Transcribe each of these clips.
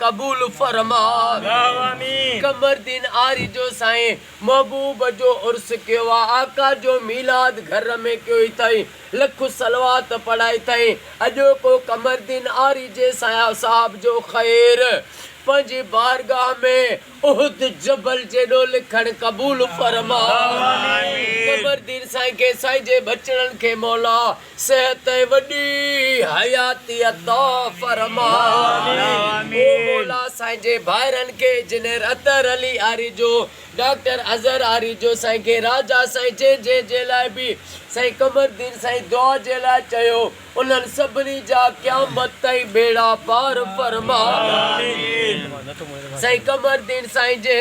قبول فرما. اللّٰه آمين. قمردين آري جو سائين محبوب جو عرس ڪيو آ آقا جو ميلاد گهر ۾ ڪيو اٿئين لک صلوات پڙهيا اٿئين اڄوڪو قمردين آري جي سائين صاحب جو خير پنهنجي بارگاهه ۾ احد جبل جيڏو لکڻ قبول فرما اللّٰه آمين. قمردين سائين کي سائين جي ٻچڙن کي مولا صحت ۽ وڏي حياتي عطا فرما. او مولا سائين جي ڀائرن کي انجنيئر اطهر علي آريجو، ڊاڪٽر اظهر آريجو سائين کي راجا سائين جي جي جي لاء به سائين قمردين سائين دعا جي لاء چيو انهن سڀني جا قيامت تائين ٻيڙا پار فرما. سائين قمردين سائين جي.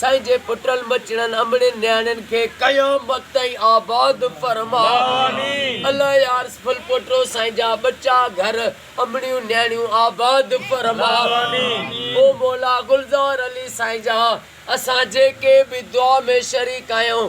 سائين جي پٽن ٻچڙن امڙين نياڻين کي قيامت تائين آباد فرماء الله يارس ڦل پوٽو سائين جا ٻچا گهر امڙيون نياڻيون آباد فرماء او مولا گلزار علي سائين جان اسان جيڪي به دعا ۾ شريڪ آهيون